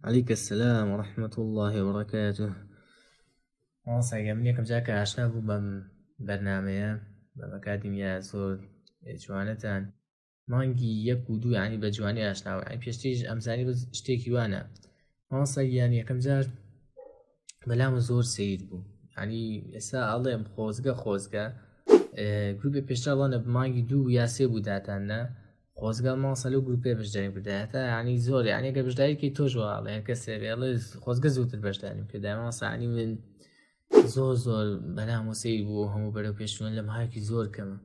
علیک السلام و رحمت الله و بەڕکاتو ماڵساگە من یەکەم جاکە ئاشنا بوو بەم بەرنمەیە بە ئەکادیمیا زۆر جوانەتان مانگی یەک و دوو ینی بە جوانی ئاشناوە ئەی پێشتیش ئەمزانی بە شتێکی وانە ماڵسا یان یەکەم جار بەلام زۆر سیر بوو ینی ئێستا ئاڵێم خۆزگە خۆزگە گروپی پێشتاوانە بمانگی دوو یاسێ بوو داتاننا خۆزگە ماسە لەو گروپێ بەشداری بدایەتە ینی زۆر یانە گە بەشداریکی تۆش واڵێ کەسێ بێڵێ خۆزگە زووتر بەشداریم کردای ماسانی من زۆر زۆر بەنامۆسی بوو هەموو بەرەو پێشوێن لە ماکی زۆر کەمە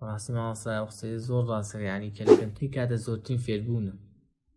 ڕاستی ماسا قسەی زۆر ڕاستەکە ینی کە لە کەمتری کاتە زۆرترین فێربوونە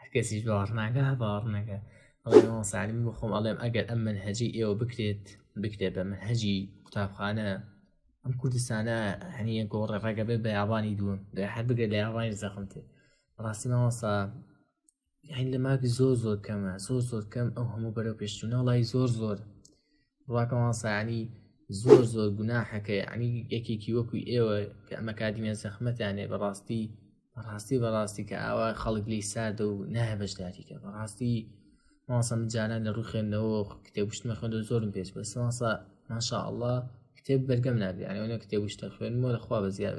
هەرکەسیش باوەڕناکە باوەڕنەکە سالم بۆ خۆم ئەڵێم ئەگەر ئەم من هەجی ئێوە بکرێت بکرێت بە من هەجی قوتابخانە ئەم کوردستانە هەنیە گۆڕە ڕێگە بێ بە یابانی دووە دە هەر بگە لە یابانی زەخمتێ ڕاستی ماوەسا هین لە ماک زۆر زۆر کەمە زۆر زۆر کەم ئەو هەموو بەرەو پێشتونە وڵی زۆر زۆر ڕاکە مامۆستا یانی زۆر زۆر گوناحە کە یعنی یەکێکی وەکو ئێوە کە ئەمە کادیمە زەخمەتانێ بەڕاستی بەڕاستی بەڕاستی کە ئاوا خەڵک لی ساردە و نایە بەشداریکە بەڕاستی ماسە من جاران لە ڕوو خوێندنەوە کتێبشتمە خوێندە زۆرم پێش بەس ماسە ماشاءله کتێب بەرگەم نابێ یانەوەە کتێبشتە خوێنمەوە لەخوا بە زیاد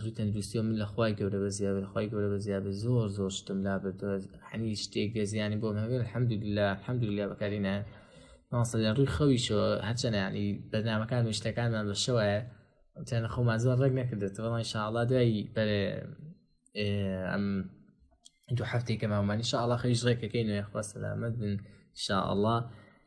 ڕووی تەندروستی و من لە خوای گەورە بە زیاد خخوای گەورە بە زیاد زۆر زۆر شتم لا بردوە حەنی شتێک گە زیانی بۆ هەگەر حەمد لە حەمد لە بەکارینە ماسە لە ڕووی خەویشەوە هەچەنە ینی بەنامەکان شتەکانمان بە شەوە تەنە خۆمان زۆر ڕێک نەکردێت بەڵی شاڵا دوایی بەر ئەم دوو هەفتێکە مامانی شاءڵا خەویش ڕێکەکەی نوێ خۆ سەلامەت بن شاءڵە